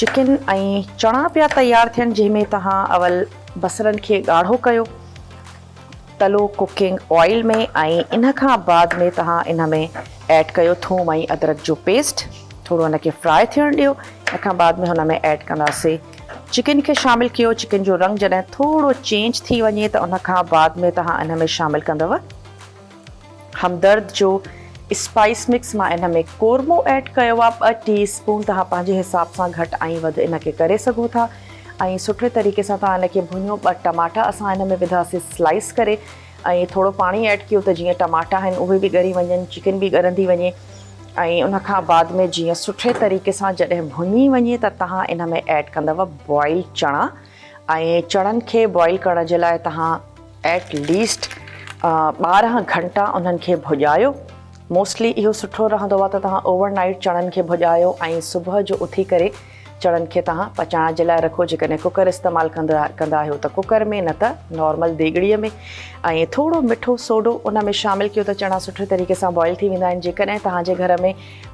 Chicken ۽ چڻا پيا تيار ٿين جنهن ۾ توهان اول بصرن کي ڳاڙهو ڪيو تلو ڪڪنگ آئل ۾ ۽ ان کان بعد ۾ توهان ان ۾ ايڊ ڪيو ٿوم ۽ ادرڪ جو پيسٽ ٿورو ان کي فرائي ٿيڻ ڏيو ان کان بعد ۾ هن ۾ ايڊ ڪنداسي چڪن کي شامل ڪيو چڪن جو رنگ جڏهن ٿورو چينج ٿي وڃي ته ان کان بعد ۾ توهان ان ۾ شامل ڪندو همدرد جو اسپائيس مڪس مان ان ۾ قورمو ايڊ ڪيو آهي ٻه ٽي اسپون تهان پنهنجي حساب سان گهٽ ۽ وڌ ان کي ڪري سگهو ٿا ۽ سٺي طريقي سان تهان ان کي ڀڃو ٻه ٽماٽا اسان ان ۾ وڌا سي سلائيس ڪري ۽ ٿورو پاڻي ايڊ ڪيو ته جيئن ٽماٽا آهن اهي به ڳري وڃن چڪن به ڳرندي وڃي ۽ ان کان بعد ۾ جيئن سٺي طريقي سان جڏهن ڀڃي وڃي ته تهان ان ۾ ايڊ ڪندو بوائل چڻا ۽ چڻن کي بوائل ڪرڻ جي لاء توهان ايٽ ليسٽ ٻارهن گهنٽا انهن کي ڀڄايو موسٽلي اهو سٺو رهندو آهي ته توهان اوور نائيٽ چڻن کي ڀڄايو ۽ صبح جو اٿي ڪري چڻن کي توهان پچائڻ جي لاء رکو جيڪڏهن ڪوڪر استعمال ڪندا ڪندا آهيو ته ڪوڪر ۾ نه ته نارمل ديڳڙي ۾ ۽ ٿورو مٺو سوڊو ان ۾ شامل ڪيو ته چڻا سٺي طريقي سان بوائل ٿي ويندا آهن جيڪڏهن توهان جي گهر ۾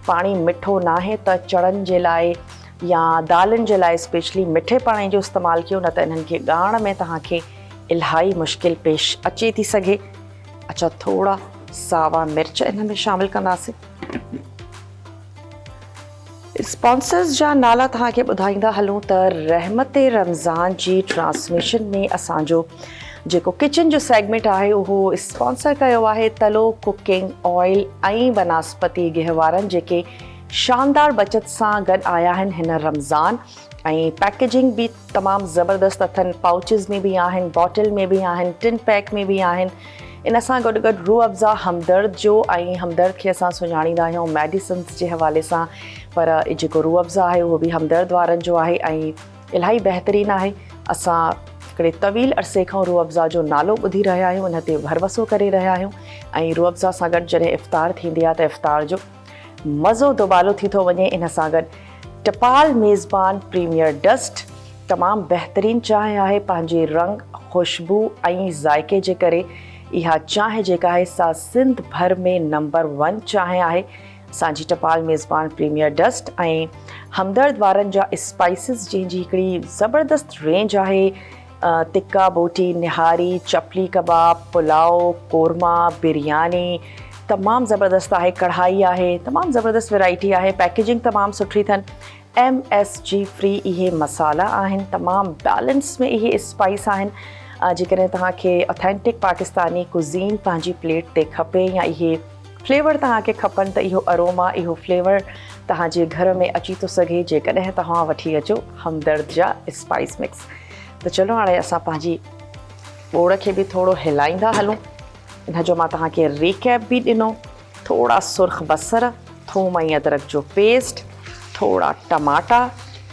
پاڻي مٺو ناهي ته چڻن جي لاء يا دالن جي لاء اسپيشلي مٺي پاڻي جو استعمال ڪيو نه ته انهن کي ڳاڙهڻ ۾ توهان کي الهائي مشڪل پيش اچي ٿي سگهي. اچا ٿورا ساوا مرچ انهن ۾ شامل ڪنداسين. اسپانسرز جا نالا توهان کي ٻڌائيندا هلون ته رحمت رمضان جي ٽرانسميشن ۾ اسان جو جيڪو ڪچن جو سيگمينٽ آهي اهو اسپانسر ڪيو آهي تلو ڪوڪنگ آئل ۽ بناسپتي گهوارن جيڪي شاندار بچت سان گڏ آيا آهن هن رمضان ۽ پيڪيجنگ به تمام زبردست اٿن پائوچز ۾ به آهن باٽل ۾ به آهن ٽن پيڪ ۾ به آهن ان سان گڏ گڏ روح افزا همدرد جو ۽ همدرد کي اسان سڃاڻيندا آهيون ميڊيسنس جي حوالي سان پر هي جيڪو روح افزا آهي اهو به همدرد وارن جو آهي ۽ الاهي بهترين آهي اسان هڪڙي طويل عرصي کان روح افزا جو نالو ٻڌي رهيا آهيون ان تي ڀروسو ڪري رهيا آهيون ۽ روح افزا سان گڏ جڏهن افطار ٿيندي آهي ته افطار جو مزو دوبالو ٿي ٿو وڃي ان سان گڏ ٽپال ميزبان پريميئر ڊسٽ تمام بهترين چانهه آهي پنهنجي رنگ خوشبو ۽ ذائقي جي ڪري اها چانهه جيڪا آهي سا سنڌ ڀر ۾ نمبر ون چانهه آهي اسان جي ٽپال ميزبان پريميئر ڊسٽ ۽ همدرد وارن جا اسپائسز جنهن جي هڪڙي زبردست رينج آهي تکا بوٽي، نهاري، چپلي ڪباب، پلاء، قورما، برياني تمام زبردست آهي، ڪڙهائي آهي، تمام زبردست ويرائٽي آهي، پيڪيجنگ تمام سٺي اٿن، ايم ايس جي فري اهي مصالحا آهن، تمام بيلنس ۾ اهي اسپائيس آهن، جيڪڏهن توهان کي اٿينٽڪ پاڪستاني ڪوزين پنهنجي پليٽ تي کپي يا اهي فليور توهان کي کپن ته اهو اروما، اهو فليور توهان جي گهر ۾ اچي ٿو سگهي جيڪڏهن توهان وٺي اچو همدرد جا اسپائيس مڪس. ته چلو هاڻي اسان پنهنجي ٻوڙ کي به ٿورو هلائيندا هلون ان جو مان توهان کي ريڪيپ به ڏنو ٿورا سرخ بصر ٿوم ۽ ادرڪ جو پيسٽ ٿورا ٽماٽا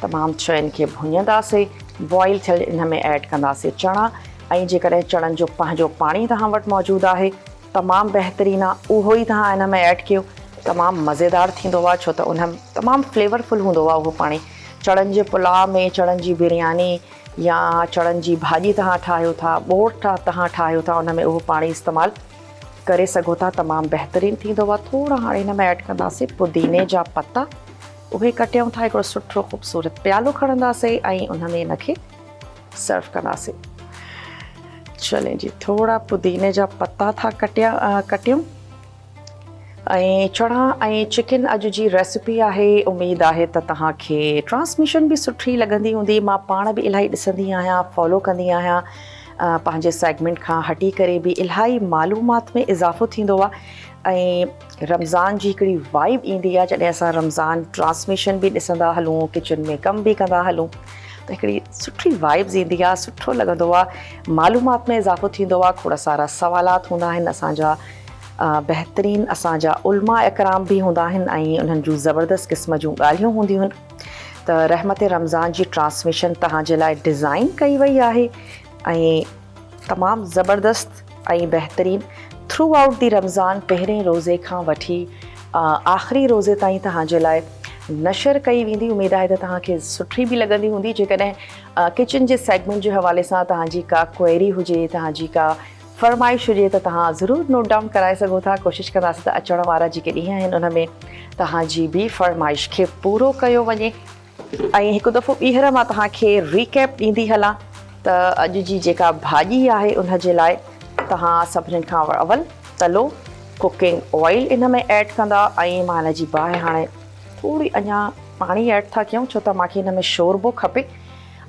تمام شين کي ڀڃنداسين بوائل ٿيل ان ۾ ايڊ ڪنداسين چڻا ۽ جيڪڏهن چڻن جو پنهنجو پاڻي توهان وٽ موجود آهي تمام بهترين آهي اهو ئي توهان ان ۾ ايڊ ڪيو تمام مزيدار ٿيندو آهي ڇو ته ان تمام فليورفل هوندو آهي اهو پاڻي چڻن جي پلاء ۾ چڻن جي برياني يا چڻن جي ڀاڄي تهان ٺاهيو ٿا، ٻوڙ تهان ٺاهيو ٿا ان ۾ اهو پاڻي استعمال ڪري سگهو ٿا تمام بهترين ٿيندو آهي ٿورا هاڻي هن ۾ ايڊ ڪنداسين پوديني جا پتا اهي ڪٽيون ٿا هڪڙو سٺو خوبصورت پيالو کڻنداسين ۽ ان ۾ ان کي سرو ڪنداسين چلين جي ٿورا پوديني جا پتا ٿا ڪٽيا ڪٽيون ۽ چڻا ۽ چڪن اڄ جي ريسپي آهي اميد آهي ته توهان کي ٽرانسميشن به سٺي لڳندي هوندي مان پاڻ به الاهي ڏسندي آهيان فالو ڪندي آهيان پنهنجي سيگمينٽ کان هٽي ڪري به الاهي معلومات ۾ اضافو ٿيندو آهي ۽ رمضان جي هڪڙي وائب ايندي آهي جڏهن اسان رمضان ٽرانسميشن به ڏسندا هلون ڪچن ۾ ڪم به ڪندا هلون ته هڪڙي سٺي وائبز ايندي آهي سٺو لڳندو آهي معلومات ۾ اضافو ٿيندو آهي کوڙ سارا سوالات هوندا آهن اسانجا بهترين اسان جا علماء اڪرام به هوندا آهن ۽ انهن جون زبردست قسم جون ڳالهيون هونديون آهن ته رحمت رمضان جي ٽرانسميشن توهان جي لاء ڊزائين ڪئي وئي آهي ۽ تمام زبردست ۽ بهترين ٿرو آئوٽ دي رمضان پهرين روزي کان وٺي آخري روزي تائين توهان جي لاء نشر ڪئي ويندي اميد آهي ته توهان کي سٺي به لڳندي هوندي جيڪڏهن ڪچن جي سيگمنٽ جي حوالي سان توهان جي ڪا ڪوئري هجي توهان جي ڪا فرمائش هجي ته توهان ضرور نوٽ ڊائون ڪرائي سگهو ٿا ڪوشش ڪنداسين ته اچڻ وارا جيڪي ڏينهن آهن ان ۾ توهان جي به فرمائش کي پورو ڪيو وڃي ۽ هڪ دفعو ٻيهر مان توهان کي ريڪيپ ڏيندي هلان ته اڄ جي جيڪا ڀاڄي آهي ان جي لاء توهان سڀني کان اول تلو ڪوڪنگ آئل ان ۾ ايڊ ڪندا ۽ مان ان جي باهه هاڻي ٿوري اڃا پاڻي ايڊ ٿا ڪيون ڇو ته مانکي ان ۾ شوربو کپي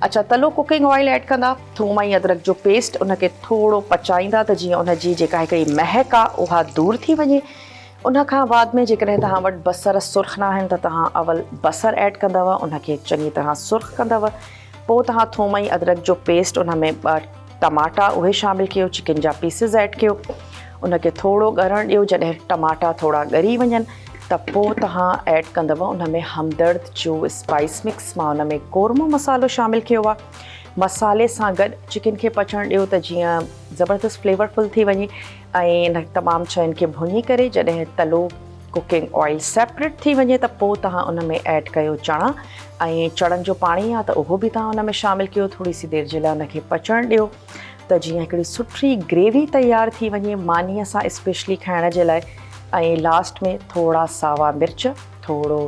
اچا تلو ڪوڪنگ آئل ايڊ ڪندا ٿوم ۽ ادرڪ جو پيسٽ ان کي ٿورو پچائيندا ته جيئن ان جي جيڪا هڪڙي مهڪ آ اها دور ٿي وڃي ان کان بعد ۾ جيڪڏهن توهان وٽ بصر سرخ ناهن ته توهان اول بصر ايڊ ڪندو ان کي چڱي طرح سرخ ڪندو پوء توهان ٿوم ۽ ادرڪ جو پيسٽ ان ۾ ٽماٽا اهي شامل ڪيو چڪن جا پيسز ايڊ ڪيو ان کي ٿورو ڳرڻ ڏيو جڏهن ٽماٽا ٿورا ڳري وڃن ته پوء تهان ايڊ ڪندو ان ۾ همدرد جو اسپائيس مڪس مان ان ۾ قورمو مصالحو شامل ڪيو آهي مصالحي سان گڏ چڪن کي پچڻ ڏيو ته جيئن زبردست فليورفل ٿي وڃي ۽ انهن تمام شين کي ڀڃي ڪري جڏهن تلو ڪوڪنگ آئل سيپريٽ ٿي وڃي ته پوء تهان ان ۾ ايڊ ڪيو چڻا ۽ چڻن جو پاڻي يا ته اهو به تهان ان ۾ شامل ڪيو ٿوري سي دير جي لاء ان کي پچڻ ڏيو ته جيئن هڪڙي سٺي گريوي تيار ٿي وڃي مانيء سان اسپيشلي کائڻ جي لاء ۽ لاسٽ ۾ ٿورا ساوا مرچ ٿورو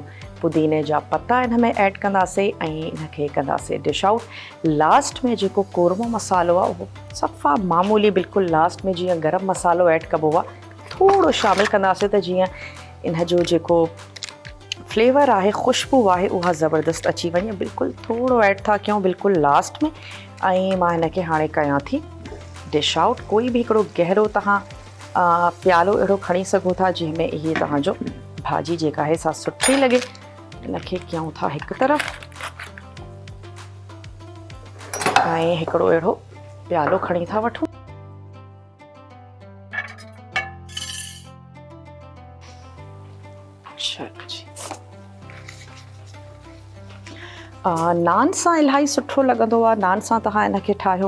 پوديني جا پتا ان ۾ ايڊ ڪنداسي ۽ ان کي ڪنداسي ڊش آئوٽ لاسٽ ۾ جيڪو قورمو مصالحو آهي اهو صفا معمولي بلڪل لاسٽ ۾ جيئن گرم مصالحو ايڊ ڪبو آ ٿورو شامل ڪنداسين ته جيئن ان جو جيڪو فليور آهي خوشبو آهي اها زبردست اچي وڃي بلڪل ٿورو ايڊ ٿا ڪيون بلڪل لاسٽ ۾ ۽ مان هن کي هاڻي ڪيان ٿي ڊش آؤٽ ڪوئي به هڪڙو گهرو تهان پيالو اهڙو کڻي سگهو ٿا جنهن ۾ اهي تهان جو ڀاڄي جيڪا آهي سا سٺي لڳي ان کي ڪيون ٿا هڪ طرف ۽ هڪڙو اهڙو پيالو کڻي ٿا وٺون. نان سان الاهي سٺو لڳندو آهي. نان سان توهان هن کي ٺاهيو.